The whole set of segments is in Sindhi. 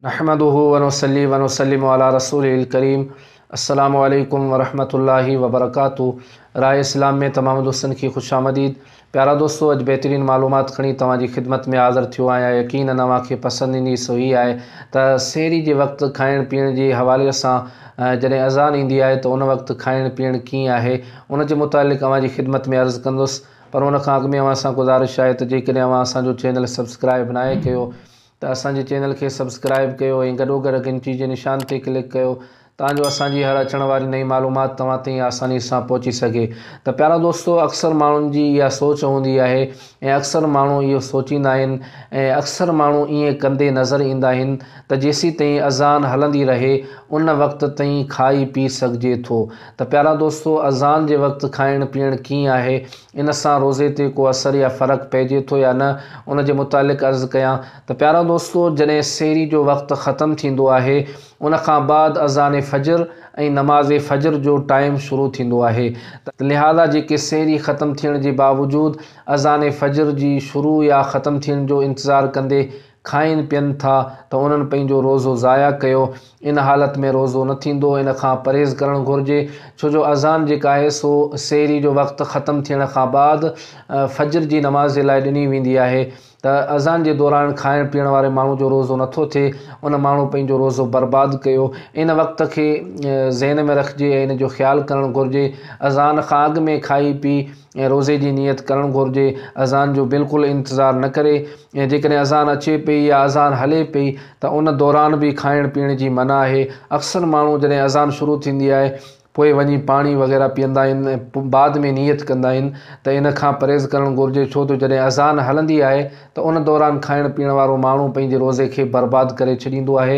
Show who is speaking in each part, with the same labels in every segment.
Speaker 1: نحمده ونصلي ونسلم علي رسوله الڪريم السلام عليڪم ورحمة الله وبرڪاته راء اسلام ۾ تمام دوستن کي خوش آمديد پيارا دوستو اڄ بهترين معلومات کڻي توهان جي خدمت ۾ حاضر ٿيو آهيان يقينن اوهان کي پسند ايندي سو هي آهي ته سحري جي وقت کائڻ پيئڻ جي حوالي سان جڏهن اذان ايندي آهي ته ان وقت کائڻ پيئڻ ڪيئن آهي ان جي متعلق اوهان جي خدمت ۾ عرض ڪندس پر ان کان اڳ ۾ اوهان سان گذارش آهي ته جيڪڏهن اوهان اسان جو چينل سبسڪرائب ناهي ڪيو ته اسان جي چينل کي سبسڪرائب ڪيو ۽ گڏوگڏ گهنٽي جي نشان تي ڪلڪ ڪيو تان جو اسان جي هر اچڻ واري نئين معلومات توهان تائين آساني سان پهچي سگهي ته پيارا دوستو اڪثر ماڻهن جي اها سوچ هوندي آهي ۽ اڪثر ماڻهو اهو سوچيندا آهن ۽ اڪثر ماڻهو ائين ڪندي نظر ايندا آهن ته جيسين تائين اذان هلندي رهي ان وقت تائين کائي پي سگهجي ٿو ته پيارا دوستو اذان جي وقت کائڻ پيئڻ ڪيئن آهي ان سان روزي تي ڪو اثر يا فرق پئجي ٿو يا نه ان جي متعلق عرض ڪيان ته پيارا دوستو جڏهن سحري جو وقت ختم ٿيندو آهي ان کان بعد اذان فجر ۽ نماز فجر جو ٽائيم شروع ٿيندو آهي ته لهذا جيڪي سحري ختم ٿيڻ جي باوجود اذان فجر جي شروع يا ختم ٿيڻ جو انتظار ڪندي کائين پين ٿا ته انهن پنهنجو روزو ضايع ڪيو. ان حالت ۾ روزو نه ٿيندو، ان کان پرهيز ڪرڻ گهرجي، ڇو جو اذان جيڪا آهي سو سحري جو وقت ختم ٿيڻ کان بعد فجر جي نماز جي لاء ڏني ويندي آهي ته اذان جي دوران کائڻ پيئڻ واري ماڻهو جو روزو نه ٿو ٿئي ان ماڻهو پنهنجو روزو برباد ڪيو ان وقت کي ذهن ۾ رکجي ۽ ان جو خيال ڪرڻ گهرجي اذان کان اڳ ۾ کائي پي ۽ روزي جي نيت ڪرڻ گهرجي، اذان جو بلڪل انتظار نه ڪري ۽ جيڪڏهن اذان اچي پئي يا اذان هلي پئي ته ان دوران به کائڻ پيئڻ جي منع آهي، اڪثر ماڻهو جڏهن اذان شروع ٿيندي آهي پوء وڃي پاڻي وغيره پيئندا آهن ۽ پوء بعد ۾ نيت ڪندا آهن ته ان کان پرهيز ڪرڻ گهرجي ڇو ته جڏهن اذان هلندي آهي ته ان دوران کائڻ پيئڻ وارو ماڻهو پنهنجي روزي کي برباد ڪري ڇڏيندو آهي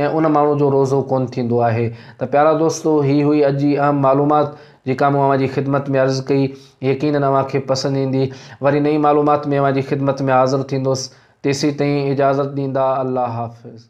Speaker 1: ۽ ان ماڻهو جو روزو ڪونه ٿيندو آهي ته پيارا دوستو هي هئي اڄ جي اهم معلومات. جيڪا مون اوهان جي خدمت ۾ عرض ڪئي، يقيناً اوهان کي پسند ايندي. وري نئين معلومات ۾ اوهان جي خدمت ۾ حاضر ٿيندس. تيسيتائين اجازت ڏيندا. الله حافظ.